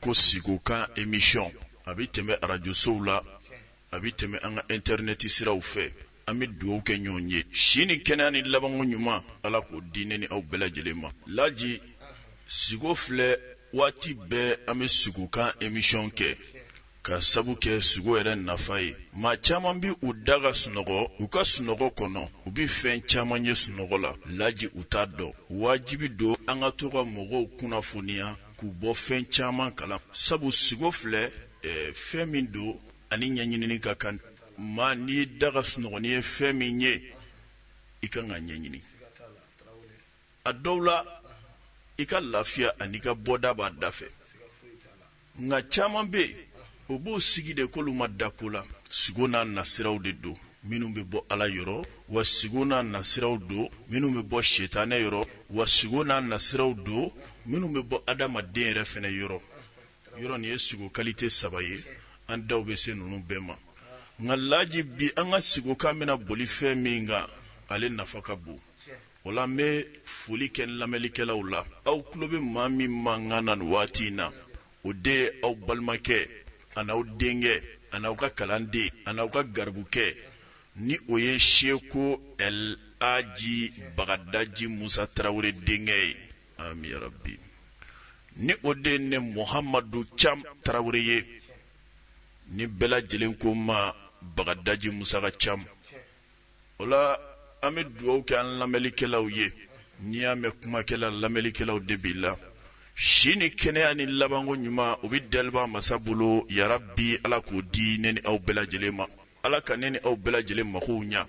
ko siko kan emisiyɔn a bɛ tɛmɛ arajosow la a bɛ tɛmɛ an ka intɛrɛnɛti siraw fɛ an bɛ dugawu kɛ ɲɔgɔn ye si ni kɛnɛya ni labanko ɲuman ala k'o di ne ni aw bɛɛ lajɛlen ma laji siko filɛ waati bɛɛ an bɛ siko kan emisiyɔn kɛ Ka sabu kɛ sugo yɛrɛ nafa ye, maa caman bɛ u da ka sunɔgɔ u ka sunɔgɔ kɔnɔ, u bɛ fɛn caman ye sunɔgɔ la laji u t'a dɔn. Wajibi don an ka to ka mɔgɔw kunnafoniya k'u bɔ fɛn caman kalama, sabu sugo filɛ fɛn min don a ni ɲɛɲinini ka kan. Maa n'i y'i da ka sunɔgɔ n'i ye fɛn min ye, i ka kan k'a ɲɛɲini. a dɔw la i ka lafiya an'i ka bɔda b'a da fɛ nka caman bɛ yen o b'o sigi de k'olu ma da ko la sigo n'a nasiraw de don minnu bɛ bɔ ala yɔrɔ wa sigo n'a nasiraw don minnu bɛ bɔ setanɛ yɔrɔ wa sigo n'a nasiraw don minnu bɛ bɔ adamaden yɛrɛ fana yɔrɔ yɔrɔ nin ye sigo kalite saba ye an daw bɛ se ninnu bɛɛ ma nka laji bi an ka sigo kan bɛna boli fɛn min kan ale nafa ka bon O la n bɛ foli kɛ n lamɛnlikɛlaw la, aw tulo bɛ maa min mankan na nin waati in na, o de ye aw balimakɛ ani aw denkɛ ani aw ka kalanden ani aw ka garibukɛ, ni o ye Seko Ɛl Aji Bagadaji Musa Tarawele denkɛ ye, aami yarabi, ni o de ye ne Mohamadu Cam Tarawele ye, ni bɛɛ lajɛlen ko n ma Bagadaji Musa ka Cam. O la an bɛ dugawu kɛ an lamɛnlikɛlaw ye n'i y'a mɛn kumakɛla lamɛnlikɛlaw de b'i la si ni kɛnɛya ni labanko ɲuman o bɛ daliba masa bolo yarabi ala k'o di ne ni aw bɛɛ lajɛlen ma ala ka ne ni aw bɛɛ lajɛlen magow ɲa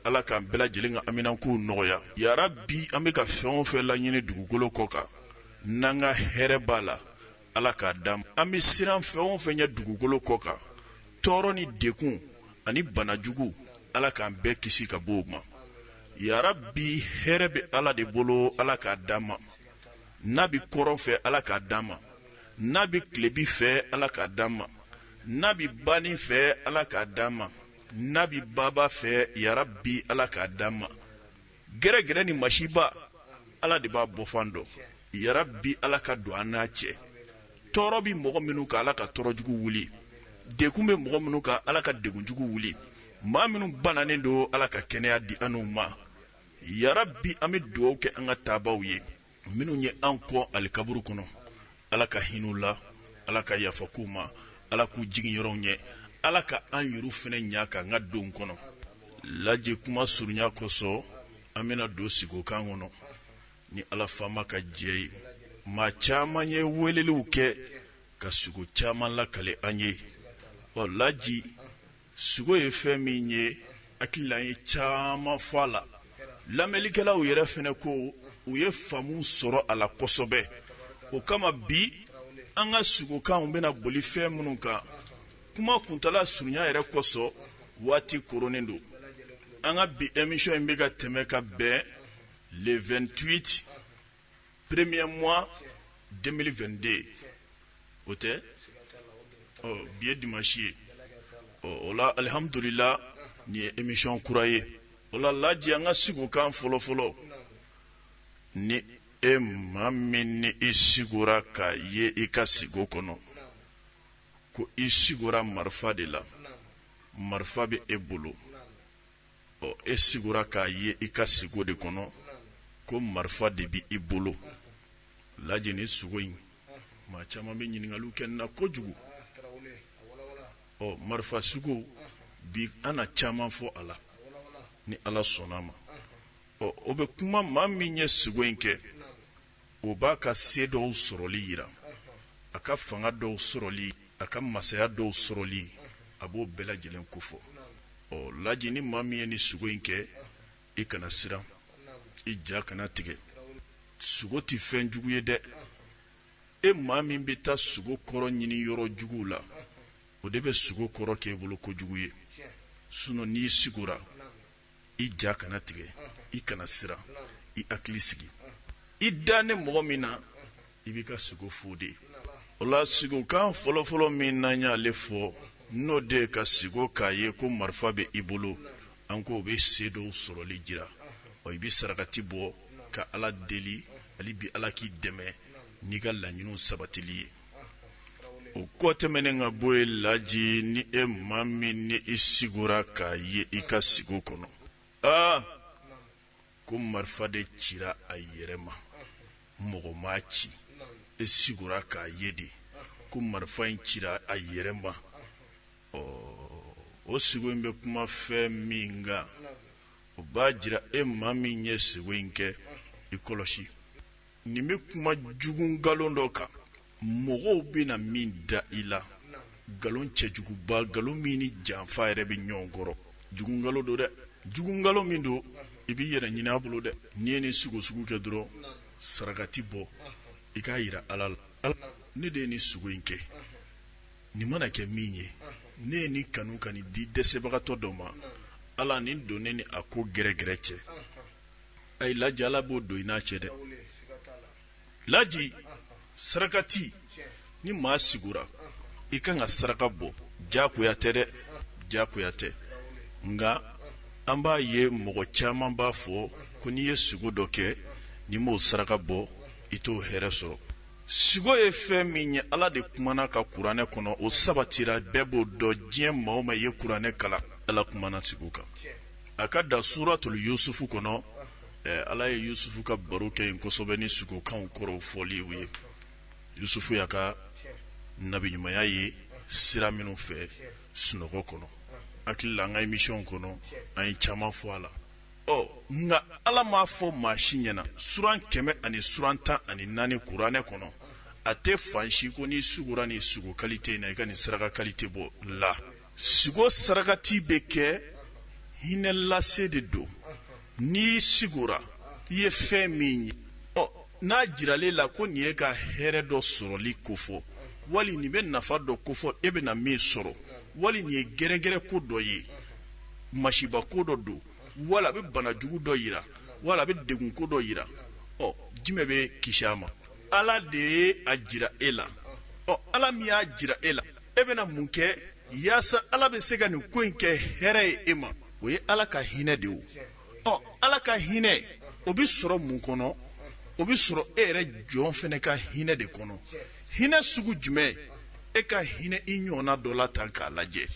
ala k'an bɛɛ lajɛlen ka haminankow nɔgɔya yarabi an bɛ ka fɛn o fɛn laɲini dugukolo kɔ kan n'an ka hɛrɛ b'a la Ala k'a di an ma an bɛ siran fɛn o fɛn ɲɛ dugukolo kɔ kan tɔɔrɔ ni degun ani banajugu ala k'an bɛɛ kisi ka bɔ o ma yarabi hɛrɛ bɛ ala de bolo ala k'a di an ma n'a bɛ kɔrɔn fɛ ala k'a di an ma n'a bɛ tilebin fɛ ala k'a di an ma n'a bɛ banin fɛ ala k'a di an ma n'a bɛ baba fɛ yarabi ala k'a di an ma gɛrɛgɛrɛ ni masiba ala de b'a bɔfan dɔn yarabi ala ka don an n'a cɛ tɔɔrɔ bɛ mɔgɔ minnu kan ala ka tɔɔrɔjugu wuli degun bɛ mɔgɔ minnu kan ala ka degunjugu wuli maa minnu bananen don ala ka kɛnɛya di an n'u ma yarabi an bɛ dugawu kɛ an ka taabaaw ye minnu ye an kɔn alikaburu kɔnɔ ala ka hin'u la ala ka yafa k'u ma ala k'u jigin yɔrɔw ɲɛ ala ka an yɛrɛw fɛnɛ ɲɛ ka an ka don kɔnɔ laji kuma surunya kosɔn an bɛna don sigokan kɔnɔ ni ala faama ka jɛn ye maa caman ye weleliw kɛ ka sigo caman lakale an ye ɔ laji Sugo ye fɛn min ye hakili la an ye caman fɔ a la lamɛnlikɛlaw yɛrɛ fɛnɛ ko u ye faamu sɔrɔ a la kosɛbɛ o kama bi an ka sugokanw bɛna boli fɛn minnu kan kuma kuntaala surunya yɛrɛ kosɔn waati koronnen don an ka bi emisiyɔn in bɛ ka tɛmɛ ka bɛn le 28 premier mois 2022 o tɛ bi ye dimasi ye ɔ o la alihamdulila nin ye emisiyɔn kura ye o la laji an ka sigokan fɔlɔfɔlɔ ni e maa min ni i sigora k'a ye i ka sigo kɔnɔ ko i sigora marifa de la marifa bɛ e bolo ɔ e sigora k'a ye i ka sigo de kɔnɔ ko marifa de bɛ i bolo laji nin sugo in maa caman bɛ ɲininkali kɛ n na kojugu ɔ marifa sugo bi an na caman fɔ a la ni ala sɔnna a ma ɔ o bɛ kuma maa min ye sugo in kɛ O b'a ka se dɔw sɔrɔli yira, a ka fanga dɔw sɔrɔli, a ka masaya dɔw sɔrɔli, a b'o bɛɛ lajɛlen kofɔ. Ɔ laji ni maa min ye nin sugo in kɛ, i kana siran, i ja kana tigɛ. Sugo tɛ fɛn jugu ye dɛ! E maa min bɛ taa sugo kɔrɔ ɲini yɔrɔ juguw la, o de bɛ sugo kɔrɔ kɛ i bolo kojugu ye. Sinon n'i sigora, i ja kana tigɛ i kana siran i hakili sigi i danen mɔgɔ min na i b'i ka sigo fɔ o de ye o la sigokan fɔlɔfɔlɔ min n'an y'ale fɔ n'o de ka sigo k'a ye ko marifa bɛ i bolo an k'o bɛ se dɔw sɔrɔli jira o i bɛ sarakati bɔ ka ala deli hali bi ala k'i dɛmɛ n'i ka laɲiniw sabatili ye o kɔ tɛmɛnen ka bɔ yen laji ni e maa min ni i sigora k'a ye i ka sigo kɔnɔ aa ko marifa de cira a yɛrɛ ma mɔgɔ m'a ci e sigora k'a ye de ko marifa in cira a yɛrɛ ma ɔ o sigo in bɛ kuma fɛn min kan o b'a jira e maa min ye sigo in kɛ i kɔlɔsi nin bɛ kuma jugu nkalon dɔ kan mɔgɔw bɛna min da i la nkalon cɛjuguba nkalon min ni janfa yɛrɛ bɛ ɲɔgɔn kɔrɔ jugu nkalon don dɛ jugu nkalon min don i b'i yɛrɛ ɲini a bolo dɛ n'i ye nin sugo sugu kɛ dɔrɔn sarakati bɔ i k'a yira ala la ala ne de ye nin sugo in kɛ nin mana kɛ min ye ne ye nin kanu ka nin di dɛsɛbagatɔ dɔ ma ala nin don ne ni a ko gɛrɛgɛrɛ cɛ ayi laji ala b'o don i n'a cɛ dɛ laji sarakati ni maa sigora i kan ka saraka bɔ jakoya tɛ dɛ jakoya tɛ nka an b'a ye mɔgɔ caman b'a fɔ ko n'i ye sugo dɔ kɛ n'i m'o saraka bɔ i t'o hɛrɛ sɔrɔ sugo ye fɛn min ye ala de kumana a kan kuranɛ kɔnɔ o sabatira bɛɛ b'o dɔn diɲɛ maa o maa ye kuranɛ kalan ala kumana sugo kan a ka da suuratul yusufu kɔnɔ ala ye yusufu ka baro kɛ yen kosɛbɛ ni sugokanw kɔrɔw fɔliw ye yusufu y'a ka nabiɲumanya ye sira minnu fɛ sunɔgɔ kɔnɔ hakili la an ka emisiyɔn kɔnɔ an ye caman fɔ a la ɔ nka ala m'a fɔ maa si ɲɛna suran kɛmɛ ani suran tan ani naani kuranɛ kɔnɔ a tɛ fan si ko n'i sugora ni sugo kalite in na i ka nin saraka kalite bɔ la sigo sarakati bɛ kɛ hinɛ lase de don n'i sigora i ye fɛn min ye ɔ n'a jiralen la ko nin y'e ka hɛrɛ dɔ sɔrɔli kofɔ wali nin bɛ nafa dɔ kofɔ e bɛna min sɔrɔ wali nin ye gɛrɛgɛrɛ ko dɔ ye masiba ko dɔ don wala a bɛ bana jugu dɔ yira wala a bɛ degun ko dɔ yira ɔ jumɛn b'e kisi a ma ala de ye a jira e la ɔ ala min y'a jira e la e bɛna mun kɛ yaasa ala bɛ se ka nin ko in kɛ hɛrɛ ye e ma o ye ala ka hinɛ de o ɔ ala ka hinɛ o bɛ sɔrɔ mun kɔnɔ o bɛ sɔrɔ e yɛrɛ jɔn fana ka hinɛ de kɔnɔ hinɛ sugu jumɛn e ka hinɛ i ɲɔgɔnna dɔ la tan k'a lajɛ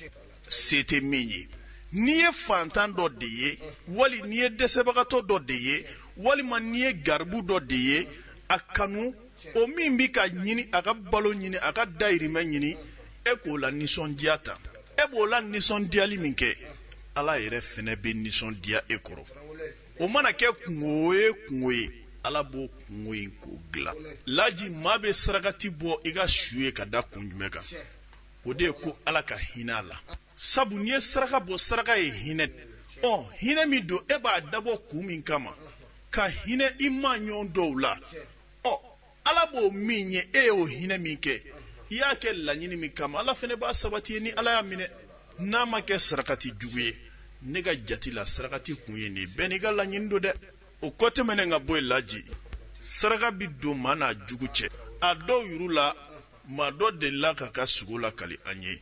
se tɛ min ye n'i ye fantan dɔ de ye wali n'i ye dɛsɛbagatɔ dɔ de ye walima n'i ye garibu dɔ de ye a kanu o min bɛ ka ɲini a ka balo ɲini a ka dayirimɛ ɲini e k'o lanisɔndiya ta e b'o lanisɔndiyali min kɛ ala yɛrɛ fana bɛ nisɔndiya e kɔrɔ o mana kɛ kunko ye kunko ye ala b'o kunko in k'o dilan laji maa bɛ sarakati bɔ i ka sugo ye ka da kun jumɛn kan o de ye ko ala ka hinɛ a la sabu n'i ye saraka bɔ saraka ye hinɛ ɔ hinɛ min don e b'a dabɔ kun min kama ka hinɛ i maa ɲɔgɔn dɔw la ɔ ala b'o minɛ e y'o hinɛ min kɛ i y'a kɛ laɲini min kama ala fɛnɛ b'a sabati i ye ni ala y'a minɛ n'a ma kɛ sarakati jugu ye ne ka jati la sarakati kun ye nin bɛɛ n'i ka laɲini don dɛ o kɔ tɛmɛnen ka bɔ yen laji saraka bi don maa n'a jugu cɛ a dɔw yuru la maa dɔ delila k'a ka sugo lakali an ye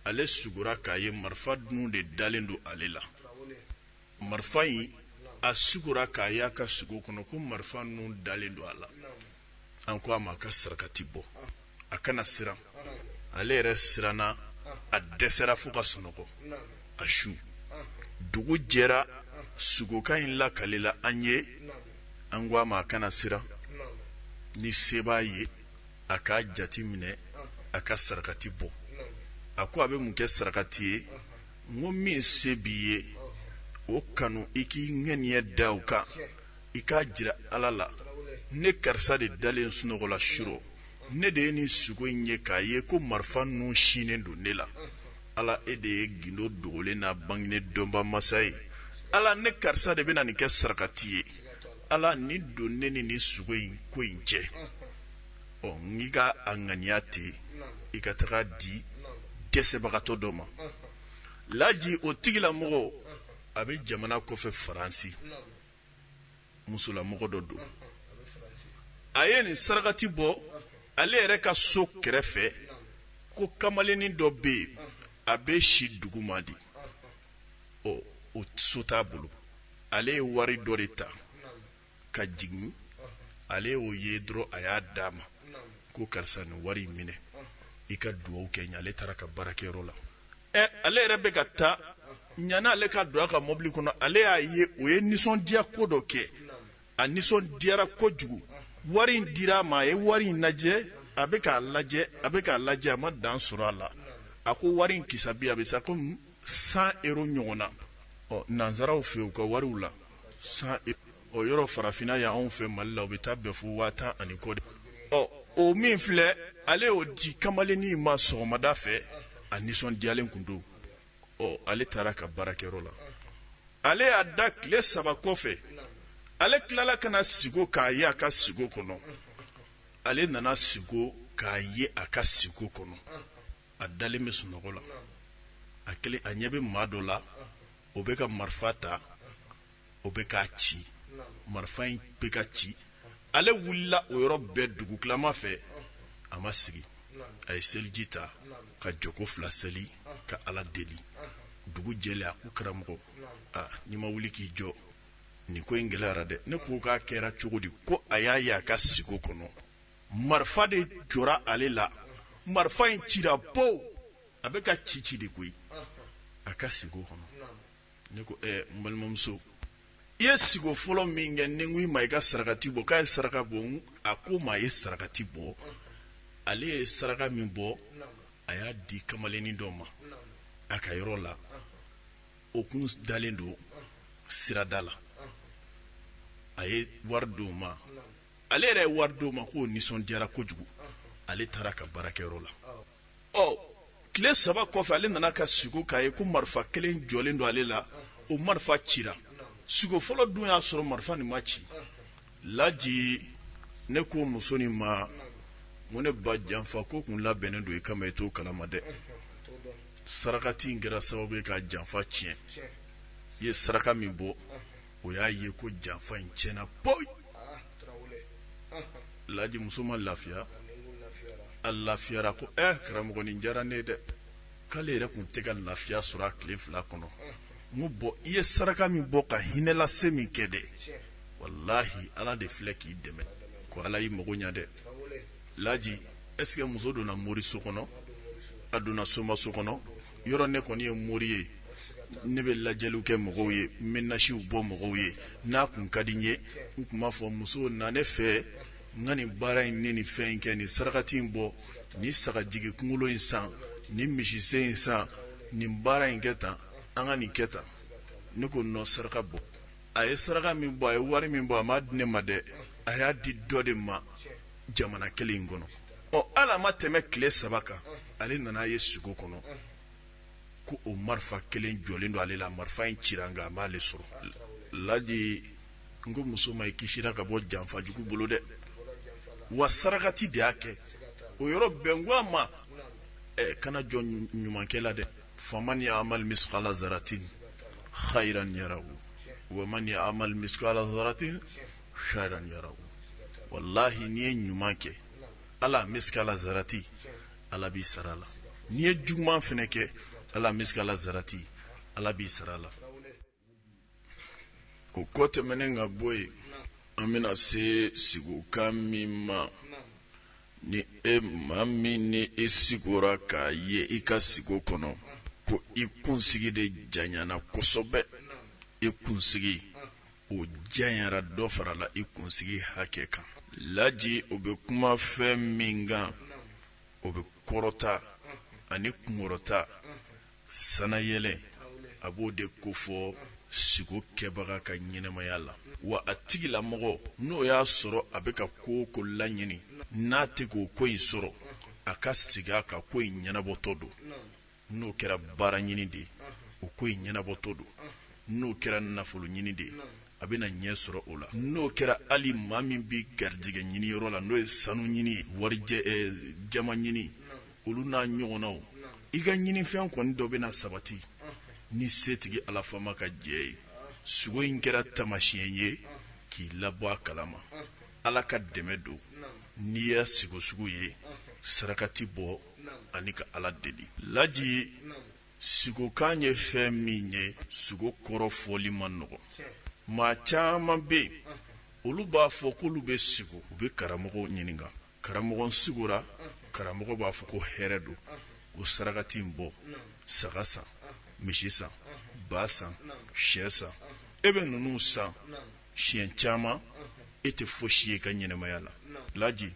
ale sugora k'a ye marifa nun de dalen don ale la marifa in a sugora k'a y'a ka sugo kɔnɔ ko marifa nun dalen don a la an ko a ma a ka sarakati bɔ a kana siran ale yɛrɛ siranna a dɛsɛra fo ka sunɔgɔ a su dugu jɛra sugokan in lakalila an ye an ko a ma a kana siran ni se b'a ye a k'a jate minɛ a ka sarakati bɔ a ko a bɛ mun kɛ sarakati ye n ko min se b'i ye o kanu i k'i ŋaniya da o kan i k'a jira ala la ne karisa de dalen sunɔgɔ la surɔ ne de ye nin sugo in ye k'a ye ko marifa nun sinnen don ne la ala e de ye gindo dogolen n'a bangenen dɔnba masa ye ala ne karisa de bɛna nin kɛ sarakati ye ala nin don ne ni nin sugo in ko in cɛ ɔ n'i ka a ŋaniya ten i ka taga di dɛsɛbagatɔ dɔ ma laji o tigilamɔgɔ a bɛ jamana kɔfɛ faransi musolamɔgɔ dɔ don a ye nin sarakati bɔ ale yɛrɛ ka so kɛrɛfɛ ko kamalennin dɔ bɛ yen a bɛ si duguma de ɔ o so t'a bolo ale ye wari dɔ de ta ka jigin ale y'o ye dɔrɔn a y'a d'a ma ko karisa nin wari in minɛ i ka dugawu kɛ n ye ale taara ka baarakɛyɔrɔ la ɛ ale yɛrɛ bɛ ka taa yani ale ka don a ka mobili kɔnɔ ale y'a ye o ye nisɔndiya ko dɔ kɛ a nisɔndiyara kojugu wari in dira a ma a ye wari in lajɛ a bɛ k'a lajɛ a bɛ k'a lajɛ a ma dan sɔrɔ a la a ko wari in kisabi a bɛ se kɔmi san ero ɲɔgɔn na ɔ nansaraw fɛ u ka wariw la san ero yɔrɔ farafinna yan anw fɛ mali la o bɛ taa bɛn fo waa tan ani kɔ de ɔ o min filɛ ale y'o di kamalennin ma sɔgɔmada fɛ a nisɔndiyalen tun don ɔ ale taara ka baarakɛyɔrɔ la ale y'a da tile saba kɔfɛ ale tilala ka na sigo k'a ye a ka sigo kɔnɔ ale nana sigo k'a ye a ka sigo kɔnɔ a dalen bɛ sunɔgɔ la a kelen a ɲɛ bɛ maa dɔ la o bɛ ka marifa ta o bɛ k'a ci marifa in bɛ ka ci ale wulila o yɔrɔ bɛɛ dugu tilama fɛ a ma sigi a ye seliji ta ka jɔko fila seli ka ala deli dugu jɛlen a ko karamɔgɔ aa n'i ma wuli k'i jɔ nin ko in gɛlɛyara dɛ ne ko k'a kɛra cogo di ko a y'a ye a ka siko kɔnɔ marifa de jɔra ale la marifa in cira pow a bɛ ka ci ci de koyi a ka siko kɔnɔ ne ko eh, n balimamuso i ye siko fɔlɔ min kɛ ne ko i ma i ka sarakati bɔ k'a ye saraka bɔ a ko ma a ye sarakati bɔ ale ye saraka min bɔ a y'a di kamalennin dɔ ma a ka yɔrɔ la o kun dalen don sirada la a ye wari di o ma ale yɛrɛ ye wari di o ma k'o nisɔn diyara kojugu ale taara ka baarakɛyɔrɔ la ɔ tile saba kɔfɛ ale nana ka siko k'a ye ko marifa kelen jɔlen don ale la o marifa cira siko fɔlɔ dun y'a sɔrɔ marifa nin ma ci laji ne ko muso nin ma ko ne ba janfa ko tun labɛnnen don i kama i t'o kalama dɛ sarakati in kɛra sababu ye ka janfa tiɲɛ i ye saraka min bɔ o y'a ye ko janfa in tiɲɛna poyi laji muso ma lafiya a lafiyara ko ɛ karamɔgɔ nin diyara ne dɛ k'ale yɛrɛ tun tɛ ka lafiya sɔrɔ a tile fila kɔnɔ n ko i ye saraka min bɔ ka hinɛ lase min kɛ dɛ wallahi ala de filɛ k'i dɛmɛ ko ala y'i mago ɲa dɛ laji est-ce que muso donna mori so kɔnɔ a donna somaso kɔnɔ yɔrɔ ne kɔni ye mori ye ne bɛ lajɛliw kɛ mɔgɔw ye n bɛ nasiw bɔ mɔgɔw ye n'a tun ka di n ye n tun b'a fɔ muso na ne fɛ n ka nin baara in ni nin fɛn in kɛ nin sarakati in bɔ nin sagajigi kunkolo in san nin misisen in san nin baara in kɛ tan an ka nin kɛ tan ne ko nɔ saraka bɔ a ye saraka min bɔ a ye wari min bɔ a m'a di ne ma dɛ a y'a di dɔ de ma jamana kelen in kɔnɔ ɔ ala ma tɛmɛ tile saba kan ale nana a ye sugo kɔnɔ ko o marifa kelen jɔlen don ale la marifa in cira nka a m'ale sɔrɔ laji n ko muso ma i kisira ka bɔ janfajugu bolo dɛ wa sarakati de y'a kɛ o yɔrɔ bɛɛ n ko a ma kana jɔ ɲumankɛ la dɛ faman ya'mal misqala zaratin khayran yarahu wa man ya'mal misqala zaratin sharran yarahu wallahi n'i ye ɲuman kɛ ala mizrati ala b'i sara la n'i ye juguman fana kɛ hali misikala zarati ala b'i sara la o kɔ tɛmɛnen ka bɔ yen an bɛna se sigukan min ma ni maa min n'i sigora k'a ye i ka sigo kɔnɔ ko i kunsigi de janyana kosɛbɛ i kunsigi o janyara dɔ farala i kunsigi hakɛ kan laji o bɛ kuma fɛn min kan o bɛ kɔrɔta ani kunkɔrɔta sanayɛlɛn a b'o de kofɔ sigo kɛbaga ka ɲɛnamaya la wa a tigilamɔgɔ n'o y'a sɔrɔ a bɛ ka ko o ko laɲini n'a tɛ k'o ko in sɔrɔ a ka sigi a ka ko in ɲɛnabɔtɔ don n'o kɛra baara ɲini de ye o ko in ɲɛnabɔtɔ don n'o kɛra nafolo ɲini de ye a bɛna ɲɛ sɔrɔ o la n'o kɛra hali maa min bɛ garijɛgɛ ɲini yɔrɔ la n'o ye sanu ɲini ye warijɛ jaman ɲini olu n'a ɲɔgɔnnaw i ka ɲinifɛn kɔni dɔ bɛna sabati ni setigi ala faama ka jɛn ye sugo in kɛra tamasiɲɛ ye k'i labɔ a kalama ala ka dɛmɛ don n'i y'a sigo sugu ye sarakati bɔ ani ka ala deli laji sigokan ye fɛn min ye sugo kɔrɔ fɔli man nɔgɔ maa caman bɛ yen olu b'a fɔ k'olu bɛ sigo u bɛ karamɔgɔ ɲininka karamɔgɔ n sigora karamɔgɔ b'a fɔ ko hɛrɛ don o sarakati in bɔ saga san misi san ba san shɛ san e bɛ ninnu san siɲɛ caman e tɛ fosi ye i ka ɲɛnamaya la laji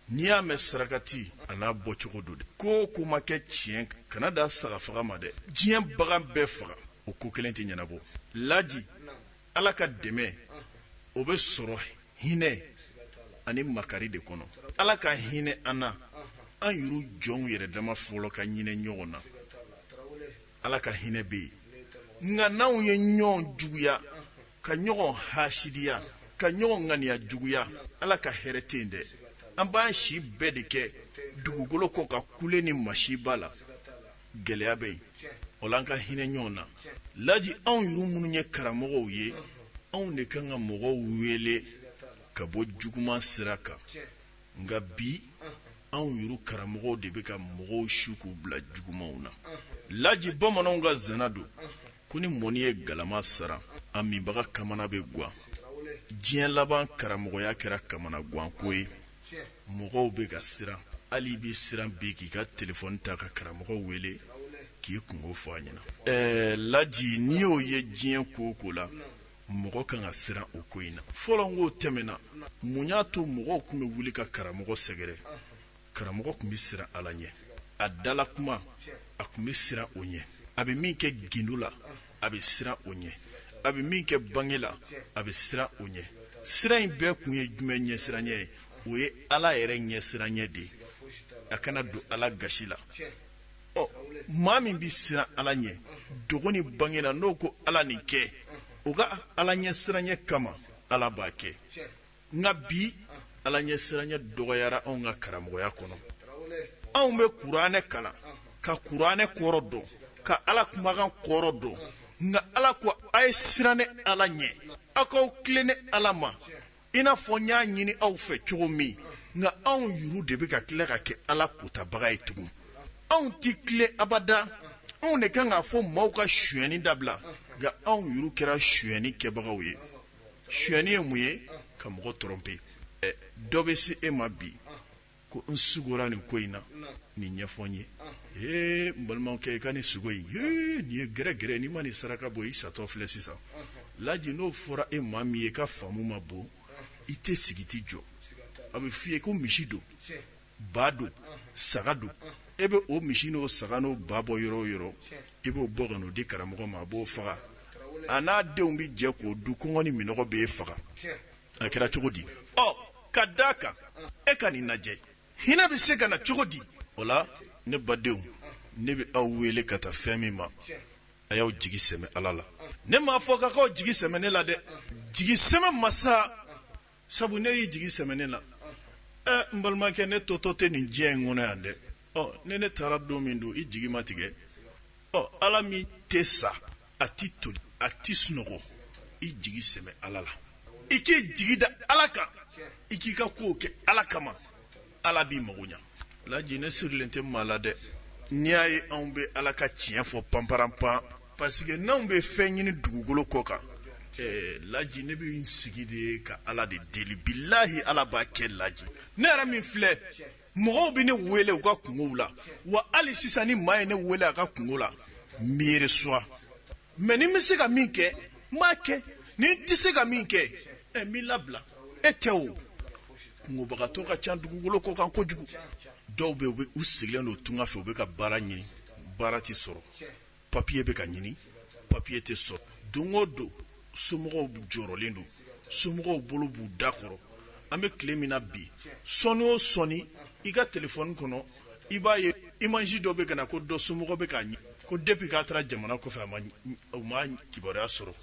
n'i y'a mɛn sarakati a n'a bɔcogo don de ko o ko ma kɛ tiɲɛ kana dan saga faga ma dɛ diɲɛ bagan bɛɛ faga o ko kelen tɛ ɲɛnabɔ laji ala ka dɛmɛ o bɛ sɔrɔ hinɛ ani makari de kɔnɔ ala ka hinɛ an na an yuru jɔnw yɛrɛ dama fɔlɔ ka hinɛ ɲɔgɔn na ala ka hinɛ bɛ yen nka n'anw ye ɲɔgɔn juguya ka ɲɔgɔn hasidiya ka ɲɔgɔn ŋaniya juguya ala ka hɛrɛ tɛ yen dɛ an b'an si bɛɛ de kɛ dugukolo kɔ ka kule ni masiba la gɛlɛya bɛ yen o la an ka hinɛ ɲɔgɔn na laji anw yuru minnu ye karamɔgɔw ye anw de kan ka mɔgɔw wele ka bɔ juguman sira kan nka bi anw yuru karamɔgɔw de bɛ ka mɔgɔw su k'u bila jugumanw na laji bamananw ka zana don ko ni mɔni ye galama siran a minbaga kamana bɛ guwan diɲɛ laban karamɔgɔya kɛra kamana guwanko ye mɔgɔw bɛ ka siran hali i bɛ siran bi k'i ka telefɔni ta ka karamɔgɔ wele k'i kungo fɔ a ɲɛna ɛɛ laji n'i y'o ye diɲɛ ko o ko la mɔgɔ kan ka siran o ko in na fɔlɔ n k'o tɛmɛna mun y'a to mɔgɔw tun bɛ wuli ka karamɔgɔ sɛgɛrɛ karamɔgɔ tun bɛ siran ala ɲɛ a da la kuma a tun bɛ siran o ɲɛ a bɛ min kɛ gindo la a bɛ siran o ɲɛ a bɛ min kɛ bange la a bɛ siran o ɲɛ siran in bɛɛ tun ye jumɛn ɲɛsiranyɛ ye o ye ala yɛrɛ ɲɛsiranyɛ de ye a kana don ala gasi la ɔ maa min bɛ siran ala ɲɛ dogo ni bange la n'o ko ala nin kɛ o ka ala ɲɛsiranyɛ kama ala b'a kɛ nka bi ala ɲɛsiranya dɔgɔyara anw ka karamɔgɔya kɔnɔ anw bɛ kuranɛ kalan ka kuranɛ kɔrɔ dɔn ka ala kumakan kɔrɔ dɔn nka ala ko a ye siran ne ala ɲɛ aw k'aw tilen ne ala ma i n'a fɔ n y'a ɲini aw fɛ cogo min nka anw yɛrɛ de bɛ ka tila ka kɛ ala kotabaga ye tugun anw tɛ tilen abada anw de kan k'a fɔ maaw ka sonyɛni dabila nka anw yɛrɛ kɛra sonyɛni kɛbagaw ye sonyɛni ye mun ye ka mɔgɔ tromper dɔ bɛ se e ma bi ko n sugora nin ko in na nin ɲɛfɔ n ye ee n balimakɛ i ka nin sugo in nin ye gɛrɛgɛrɛ n'i ma nin saraka bɔ i satɔ filɛ sisan laji n'o fɔra e maa min ye i ka faamu ma bon i tɛ sigi i t'i jɔ a bɛ fɔ i ye ko misi don ba don saga don e bɛ o misi n'o saga n'o ba bɔ yɔrɔ o yɔrɔ i b'o bɔ ka n'o di karamɔgɔ ma a b'o faga a n'a denw bɛ jɛ k'o dun kɔngɔ ni minɔgɔ b'e faga a kɛra cogo di ɔ ka d'a kan e ka nin lajɛ hinɛ bɛ se ka na cogo di o la ne badenw ne bɛ aw wele ka taa fɛn min ma a y'aw jigi sɛmɛ ala la ne m'a fɔ k'a k'aw jigi sɛmɛ ne la dɛ jigi sɛmɛ masa sabu n'e y'i jigi sɛmɛ ne la ɛ n balimakɛ ne totɔ tɛ nin diɲɛ in kɔnɔ yan dɛ ɔ ni ne taara don min don i jigi ma tigɛ ɔ ala min tɛ sa a tɛ toli a tɛ sunɔgɔ i jigi sɛmɛ ala la i k'i jigi da ala kan i k'i ka kow kɛ ala kama ala b'i mago ɲa laji ne sirilen tɛ maa la dɛ n'i y'a ye anw bɛ ala ka tiɲɛ fɔ panparanpan parce que n'anw bɛ fɛn ɲini dugukolo kɔ kan eh, laji ne bɛ n sigi de ka ala de deli bilahi ala b'a kɛ laji ne yɛrɛ min filɛ mɔgɔw bɛ ne wele u ka kunkow la wa hali sisan ni maa ye ne wele a ka kunko la n b'i recevoir mais ni n bɛ se ka min kɛ n b'a kɛ ni n tɛ se ka min kɛ ɛ n b'i labila e tɛ o kunkobagatɔ ka ca dugukolo kɔ kan kojugu dɔw bɛ yen u sigilen don tunga fɛ u bɛ ka baara ɲini baara tɛ sɔrɔ papiye bɛ ka ɲini papiye tɛ sɔrɔ don o don somɔgɔw jɔrɔlen don somɔgɔw bolo b'u da kɔrɔ an bɛ tile min na bi sɔɔni o sɔɔni i ka telefɔni kɔnɔ i b'a ye imazi dɔ bɛ ka na ko dɔ somɔgɔ bɛ k'a ɲini ko depi k'a taara jamana kɔfɛ u m'a kibaruya sɔrɔ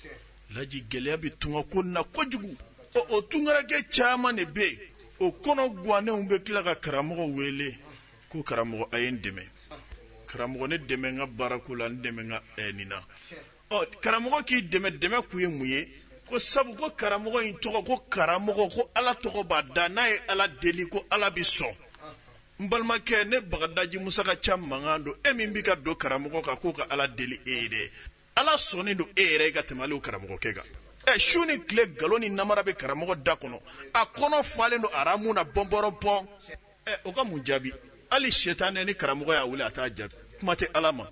laji gɛlɛya bɛ tunga ko na kojugu ɔ o tungarakɛ caman de bɛ yen o kɔnɔ gwannenw bɛ tila ka karamɔgɔ wele ko karamɔgɔ a ye n dɛmɛ karamɔgɔ ne dɛmɛ n ka baarako la n dɛmɛ n ka ɛɛ nin na karamɔgɔ k'i dɛmɛ dɛmɛ kun ye mun ye ko sabu ko karamɔgɔ in tɔgɔ ko karamɔgɔ ko ala tɔgɔ b'a da n'a ye ala deli ko ala bɛ sɔn n balimakɛ ne bagadaji musa ka ca mankan don e min bɛ ka don karamɔgɔ kan k'o ka ala deli e ye dɛ ala sɔnnen don e yɛrɛ ye ka tɛmɛ karamɔgɔkɛ kan ɛ su ni tile nkalon ni namara bɛ karamɔgɔ da kɔnɔ a kɔnɔ falen don haramu na bɔnpɔrɔnpɔn ɛ o ka mun jaabi hali setanɛ ni karamɔgɔ y'a wele a t'a jaabi kuma tɛ ala ma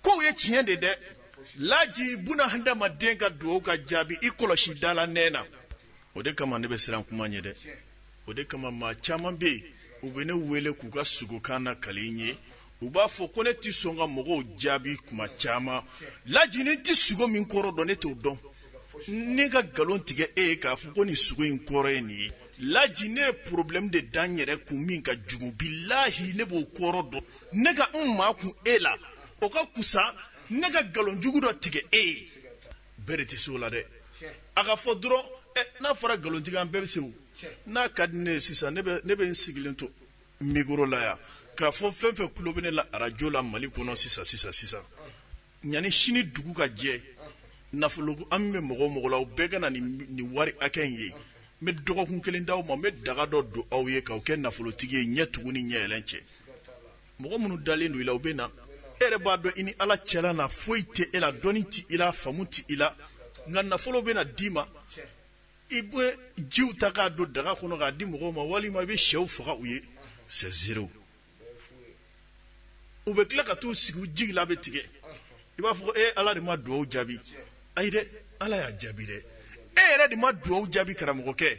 Kow ye tiɲɛ de dɛ laji buna hadamaden ka dugawu ka jaabi i kɔlɔsi da la nɛn na o de kama ne bɛ siran kuma ɲɛ dɛ o de kama maa caman bɛ yen u bɛ ne wele k'u ka sugokan nakali n ye u b'a fɔ ko ne tɛ sɔn ka mɔgɔw jaabi kuma caman laji n tɛ sugo min kɔrɔ dɔn ne t'o dɔn ne ka nkalon tigɛ e ye k'a fɔ ko nin sugo in kɔrɔ ye nin ye laji ne ye porobilɛmu de da n yɛrɛ kun min ka jugu bilahi ne b'o kɔrɔ dɔn ne ka n makun e la o ka kusa ne ka nkalon jugu dɔ tigɛ e ye bɛɛ de tɛ se o la dɛ a ka fɔ dɔrɔn n'a fɔra nkalontigɛ an bɛɛ bɛ se o n'a ka di ne ye sisan ne bɛ n sigilen to mikoro la yan k'a fɔ fɛn fɛn tulo bɛ ne la arajo la mali kɔnɔ sisan sisan sisan Yanni sini dugu ka jɛ nafolo hami bɛ mɔgɔ o mɔgɔ la u bɛɛ ka na ni wari hakɛ in ye n bɛ dɔgɔkun kelen da aw ma n bɛ daga dɔ don aw ye k'aw kɛ nafolotigi ye ɲɛ tugu ni ɲɛ yɛlɛn cɛ mɔgɔ minnu dalen don i la u bɛ na e yɛrɛ b'a dɔn i ni ala cɛla na foyi tɛ e la dɔnni tɛ i la faamu tɛ i la nka nafolo bɛ na d'i ma i bɛ jiw ta k'a don daga kɔnɔ k'a di mɔgɔw ma walima i bɛ shɛw faga u ye sɛ zero u bɛ tila ka t'u sigi u jigi la bɛ tigɛ i b'a fɔ e ala de ma dugawu jaabi ayi dɛ ala y'a jaabi dɛ e yɛrɛ de ma dugawu jaabi karamɔgɔkɛ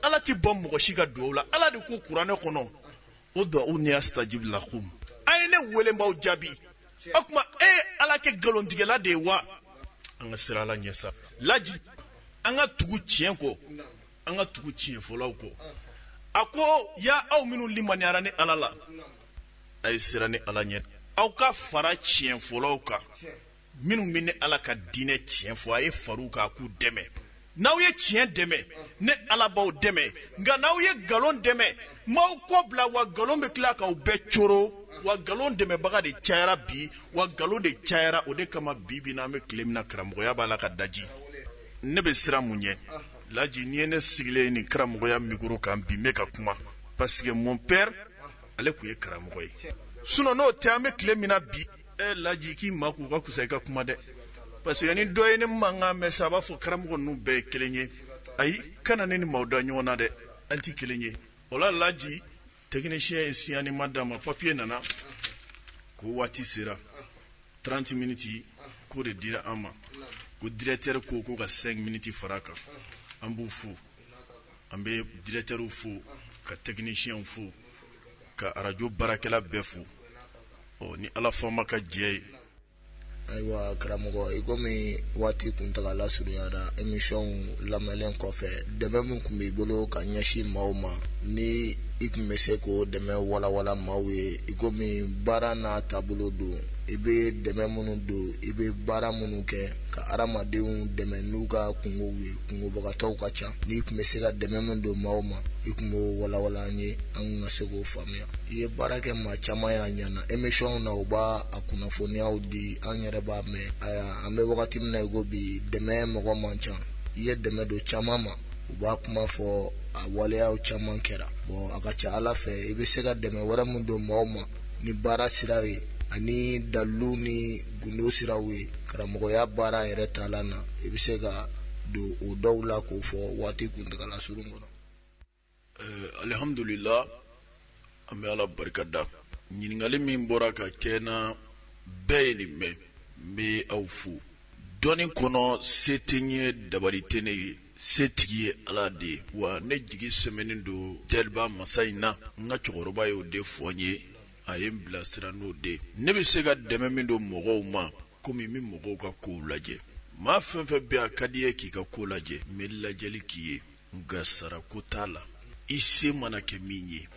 ala tɛ ban mɔgɔ si ka dugawu la ala de ko kuranɛ kɔnɔ udu'uni asitajibi lakumu a ye ne wele n b'aw jaabi o tuma e ala kɛ nkalontigɛla de ye wa an ka siran ala ɲɛ laji an ka tugu tiɲɛ kɔ an ka tugu tiɲɛ fɔlaw kɔ a ko ya aw minnu limaniyara ne ala la a ye siran ne ala ɲɛ aw ka fara tiɲɛ fɔlaw kan minnu bɛ ne ala ka diinɛ tiɲɛ fɔ a ye far'u kan k'u dɛmɛ n'aw ye tiɲɛ dɛmɛ ne ala b'aw dɛmɛ nka n'aw ye nkalon dɛmɛ n b'aw kɔ bila wa nkalon bɛ tila k'aw bɛɛ coro wa nkalon dɛmɛbaga de cayara bi wa nkalon de cayara o de kama bi bi na an bɛ tile min na karamɔgɔya b'a la ka daji ne bɛ siran mun ɲɛ laji n'i ye ne sigilen ye nin karamɔgɔya mikoro kan bi n bɛ ka kuma parce que mon père ale tun ye karamɔgɔ ye sinon n'o tɛ an bɛ tile min na bi e laji k'i makun ka fisa i ka kuma dɛ parce que ni dɔ ye ne mankan mɛn sa a b'a fɔ karamɔgɔ ninnu bɛɛ ye kelen ye ayi kana ne ni maaw da ɲɔgɔn na dɛ an tɛ kelen ye o la laji tɛkinisiyɛn ye siɲaliman d'an ma papiye nana ko waati sera 30 miniti k'o de dira an ma ko dirɛtɛri ko ko ka 5 miniti fara a kan an b'u fo an bɛ dirɛtɛriw fo ka tɛkinisiyɛnw fo ka arajo baarakɛla bɛɛ fo ɔ ni ala faama ka jɛ ye ayiwa karamɔgɔ i komi waati kuntagala surunyara émission lamɛnlen kɔfɛ dɛmɛ min tun b'i bolo ka ɲɛsin maaw ma ni i tun bɛ se k'o dɛmɛ walawala maaw ye i komi baara n'a taabolo don i bɛ dɛmɛ minnu don i bɛ baara minnu kɛ ka hadamadenw dɛmɛ n'u ka kungow ye kungobagatɔw ka ca n'i tun bɛ se ka dɛmɛ min don maaw ma i tun b'o walawala an ye an ka se k'o faamuya i ye baara kɛ maa caman y'a ɲɛna émission na u b'a kunnafoniyaw di an yɛrɛ b'a mɛn aya an bɛ wagati min na i ko bi dɛmɛ mɔgɔ man ca i ye dɛmɛ don caman ma u b'a kuma fɔ a waleyaw caman kɛra bon a ka ca ala fɛ i bɛ se ka dɛmɛ wɛrɛ min don maaw ma ni baara sira ye ani dalu ni gundo siraw ye karamɔgɔya baara yɛrɛ taalan na i bɛ se ka don o dɔw la k'o fɔ waati kuntaala surun kɔnɔ Alihamdulila an bɛ ala barika da ɲininkakali min bɔra ka kɛ na bɛɛ ye nin mɛn n bɛ aw fo dɔnni kɔnɔ se tɛ n ye dabali tɛ ne ye setigi ye ala de ye wa ne jigi sɛmɛnen don daliba masa in na n ka cɛkɔrɔba ye o de fɔ n ye a ye n bilasira n'o de ne bɛ se ka dɛmɛ min don mɔgɔw ma kɔmi n bɛ mɔgɔw ka kow lajɛ maa fɛn fɛn bɛ a ka di ye k'i ka ko lajɛ n bɛ lajɛli k'i ye nka sarako t'a la i se mana kɛ min ye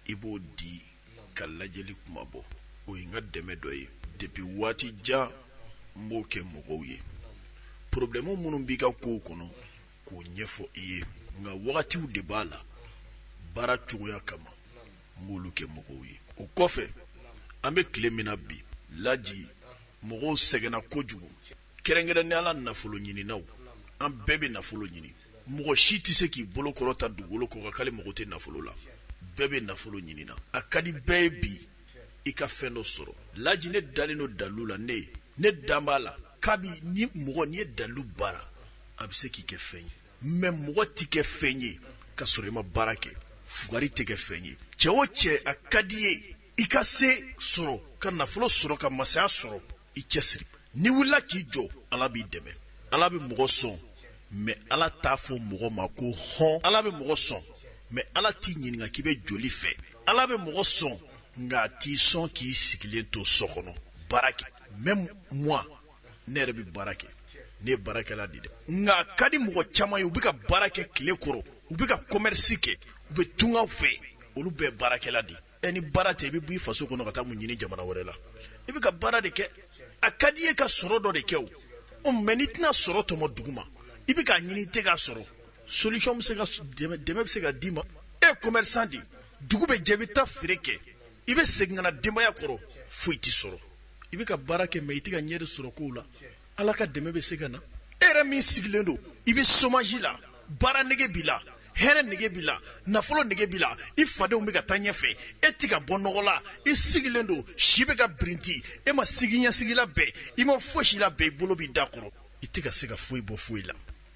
i b'o di ka lajɛli kuma bɔ o ye n ka dɛmɛ dɔ ye depi waati jan n b'o kɛ mɔgɔw ye porobilɛmu minnu b'i ka kow kɔnɔ k'o ɲɛfɔ i ye nka wagatiw de b'a la baara cogoya kama n b'olu kɛ mɔgɔw ye o kɔfɛ an bɛ tile min na bi laji mɔgɔw sɛgɛnna kojugu kɛrɛnkɛrɛnnenya la nafolo ɲininaw an bɛɛ bɛ nafolo ɲini mɔgɔ si tɛ se k'i bolo kɔrɔta dugukolo kɔ kan k'ale mago tɛ nafolo la bɛɛ bɛ nafolo ɲini na a ka di bɛɛ ye bi i ka fɛn dɔ sɔrɔ laji ne dalen don dalu la ne ye ne dan b'a la kabi ni mɔgɔ ni ye dalu baara a bɛ se k'i kɛ fɛn ye mɛ mɔgɔ tɛ kɛ fɛn ye ka sɔrɔ i ma baara kɛ fugari tɛ kɛ fɛn ye cɛ o cɛ a ka di ye i ka se sɔrɔ ka nafolo sɔrɔ ka masaya sɔrɔ i cɛsiri n'i wulila k'i jɔ ala b'i dɛmɛ ala bɛ mɔgɔ sɔn mais ala t'a fɔ mɔgɔ ma ko hɔn ala bɛ mɔgɔ sɔn mais ala t'i ɲininka k'i bɛ joli fɛ ala bɛ mɔgɔ sɔn nka a t'i sɔn k'i sigilen to so kɔnɔ baara kɛ même moi ne yɛrɛ bɛ baara kɛ ne ye baarakɛla de dɛ nka a ka di mɔgɔ caman ye u bɛ ka baara kɛ tile kɔrɔ u bɛ ka commerce kɛ u bɛ tungaw fɛ olu bɛɛ baarakɛla de ye ɛ ni baara tɛ i bɛ bɔ i faso kɔnɔ ka taa mun ɲini jamana wɛrɛ la i bɛ ka baara de kɛ a ka di i ye ka sɔrɔ dɔ de kɛ o ɔ mais n'i tɛna sɔrɔ tɔmɔ duguma i bɛ k'a ɲini i tɛ k'a sɔrɔ solution bɛ se ka dɛmɛ bɛ se ka d'i ma e ye commerçant de ye dugu bɛ jɛ i bɛ taa feere kɛ i bɛ segin ka na denbaya kɔrɔ foyi tɛ sɔrɔ i bɛ ka baara kɛ mais i tɛ ka ɲɛ de sɔrɔ kow la Ala ka dɛmɛ bɛ se ka na e yɛrɛ min sigilen don i bɛ chômage la baara nege b'i la hɛrɛ nege b'i la nafolo nege b'i la i fadenw bɛ ka taa ɲɛfɛ e tɛ ka bɔ nɔgɔ la i sigilen don si bɛ ka birinti e ma siniɲɛsigi labɛn i ma foyi si labɛn i bolo b'i da kɔrɔ i tɛ ka se ka foyi bɔ foyi la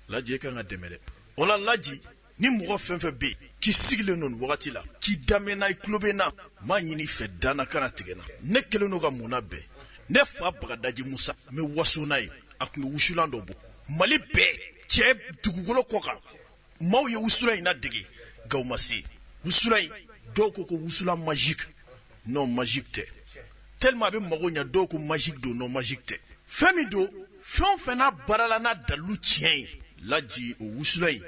laji e ka kan ka dɛmɛ dɛ o la laji ni mɔgɔ fɛn fɛn bɛ yen k'i sigilen don nin wagati la k'i daminɛna i tulo bɛ n na n b'a ɲini i fɛ dannaya kana tigɛ n na ne kɛlen don ka mun labɛn ne fa bagadaji musa n bɛ waso n'a ye a tun bɛ wusulan dɔ bɔ mali bɛɛ cɛ dugukolo kɔ kan maaw ye wusulan in ladege nka u ma se wusulan in dɔw ko ko wusulan magique non magique tɛ tellement a bɛ mago ɲɛ dɔw ko magique don non magique tɛ fɛn min don fɛn o fɛn n'a baarala n'a dalilu tiɲɛ ye laji o wusulan in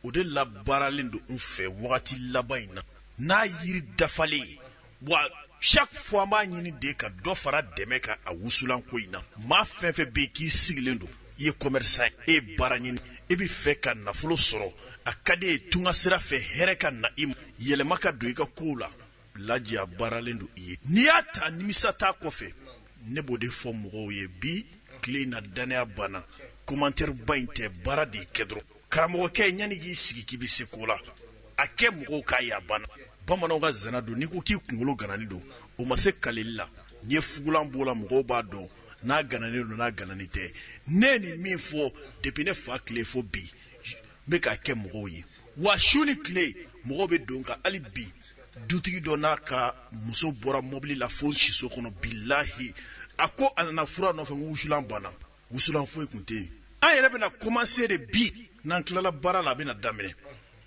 o de labaaralen don n fɛ wagati laban in na n'a yiri dafalen ye wa chaque fois an b'a ɲini de ka dɔ fara dɛmɛ kan a wusulan ko in na maa fɛn fɛn bɛ yen k'i sigilen don i ye commerçant ye e ye baara ɲini i bɛ fɛ ka nafolo sɔrɔ a ka di e ye tunga sira fɛ hɛrɛ ka na i ma yɛlɛma ka don i ka kow la laji a baaralen don i ye n'i y'a ta nimisa t'a kɔfɛ ne b'o de fɔ mɔgɔw ye bi tile in na dannaya banna commentaire ba in tɛ baara de kɛ dɔrɔn karamɔgɔkɛ yanni k'i sigi k'i bɛ se ko la a kɛ mɔgɔw k'a ye a banna bamananw ka zana don n'i ko k'i kunkolo gananen don o ma se kalili la n'i ye fugulan b'o la mɔgɔw b'a dɔn n'a gananen don n'a gananen tɛ ne nin min fɔ depuis ne fa tile fo bi n bɛ k'a kɛ mɔgɔw ye wa su ni tile mɔgɔw bɛ don ka hali bi dutigi dɔ n'a ka muso bɔra mobili la fo siso kɔnɔ bilahi a ko a nana fura nɔfɛ wusulan banna wusulan foyi tun tɛ yen an yɛrɛ bɛna commencer de bi n'an tilala baara la a bɛna daminɛ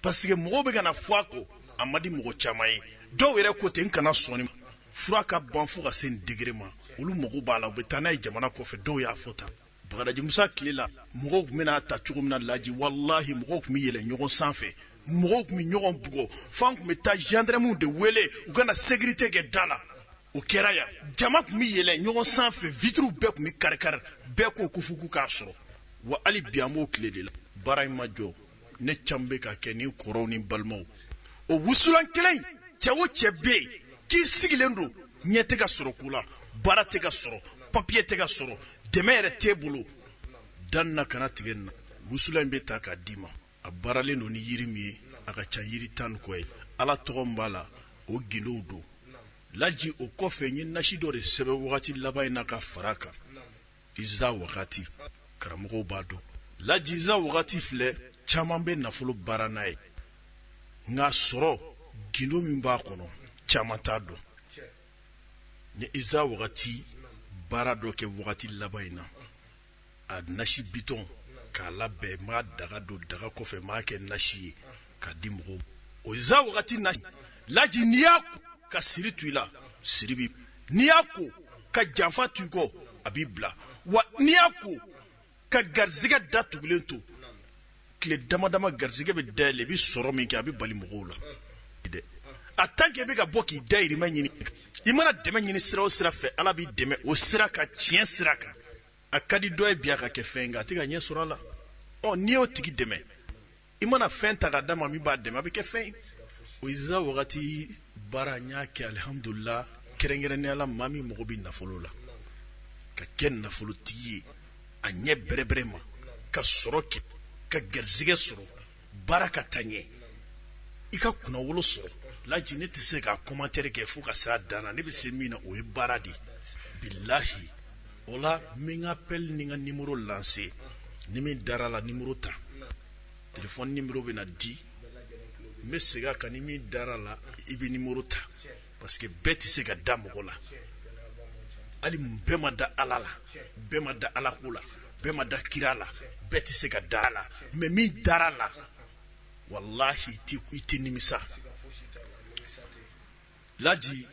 parce que mɔgɔw bɛ ka na fɔ a kɔ a ma di mɔgɔ caman ye dɔw yɛrɛ ko ten n kana sɔn nin ma fura ka ban fo ka se nin degré ma olu mago b'a la u bɛ taa n'a ye jamana kɔfɛ dɔw y'a fɔ tan Bagadaji Musa tile la mɔgɔw tun bɛ n'a ta cogo min na laji walahi mɔgɔw tun bɛ yɛlɛ ɲɔgɔn sanfɛ mɔgɔw tun bɛ ɲɔgɔn bugɔ f'an tun bɛ taa gendarmew de wele u ka na sécurité kɛ da la o kɛra yan jama tun bɛ yɛlɛ ɲɔgɔn sanfɛ vitiriw bɛɛ tun bɛ kari-kari bɛɛ ko ko fo k'u k'a sɔrɔ wa hali bi an b'o tile de la baara in ma jɔ ne ca bɛ ka kɛ ni kɔrɔw ni balimaw o wusulan kelen cɛ o cɛ bɛ yen k'i sigilen don ɲɛ tɛ ka sɔrɔ ko la baara tɛ ka sɔrɔ papiye tɛ ka sɔrɔ dɛmɛ yɛrɛ t'e bolo da n na kana tigɛ n na wusulan in bɛ ta k'a d'i ma a baaralen don ni yiri min ye a ka ca yiri tan ni kɔ ye ala tɔgɔ min b'a la o gindow don laji o kɔfɛ n ye nasi dɔ de sɛbɛn wagati laban in na ka fara kan Iza wagati karamɔgɔw b'a dɔn laji iza wagati filɛ caman bɛ nafolo baara n'a ye nka sɔrɔ gindo min b'a kɔnɔ caman t'a dɔn n ye iza wagati baara dɔ kɛ wagati laban in na a nasi bitɔn k'a labɛn m'a daga don daga kɔfɛ m'a kɛ nasi ye k'a di mɔgɔw o iza wagati nasi laji n'i y'a ko ka siri to i la siri bi n'i y'a ko ka janfa to i kɔ a b'i bila wa n'i y'a ko ka garizigɛ da tugulen to tile dama dama garizigɛ bɛ dayɛlɛ i bɛ sɔrɔ min kɛ a bɛ bali mɔgɔw la dɛ a tant que i bɛ ka bɔ k'i dayirimɛ ɲini i mana dɛmɛ ɲini sira o sira fɛ ala b'i dɛmɛ o sira kan tiɲɛ sira kan a ka di dɔ ye bi a ka kɛ fɛn nka a tɛ ka ɲɛ sɔrɔ a la ɔ n'i y'o tigi dɛmɛ i mana fɛn ta ka d'a ma min b'a dɛmɛ a bɛ kɛ fɛn ye o iza wagati baara n y'a kɛ alihamudulila kɛrɛnkɛrɛnnenya la maa min mago bɛ nafolo la ka kɛ nafolotigi ye a ɲɛ bɛrɛbɛrɛ ma ka sɔrɔ kɛ ka garizigɛ sɔrɔ baara ka taa ɲɛ i ka kunnawolo sɔrɔ laji ne tɛ se ka commentaire kɛ fo ka se a dan na ne bɛ se min na o ye baara de ye bilahi o la n bɛ n ka appel ni n ka numéro lancer ni min dara la numéro ta téléphone numéro bɛ na di n bɛ segin a kan ni min dara la i bɛ numéro ta parce que bɛɛ tɛ se ka da mɔgɔ la hali bɛɛ ma da ala la bɛɛ ma da ala ko la bɛɛ ma da kira la bɛɛ tɛ se ka da a la mais min dara la walahi i tɛ nimisa laji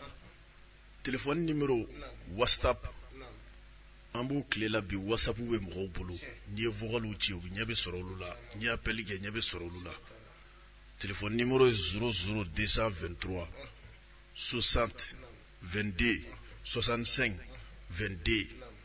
Téléphone numéro whatsapp an b'u tile la bi whatsapp bɛ mɔgɔw bolo n'i ye vocaliw ci u ɲɛ bɛ sɔrɔ olu la n'i ye appel kɛ ɲɛ bɛ sɔrɔ olu la téléphone numéro ye 00 223 60 22 65 22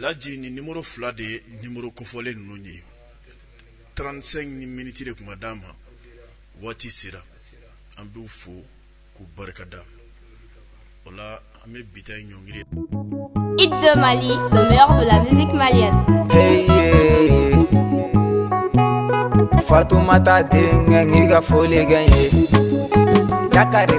laji ni nimɔrɔ fila de ye nimɔrɔ kofɔlen ninnu ye trente-cinq ni miniti de kuma d'a ma waati sera an b'u fo k'u barikada o la an bɛ bi ta ɲɔngiri hit de mali le meilleur de la musique malienne fatumata denkɛ n ka foli kɛ ye ka kari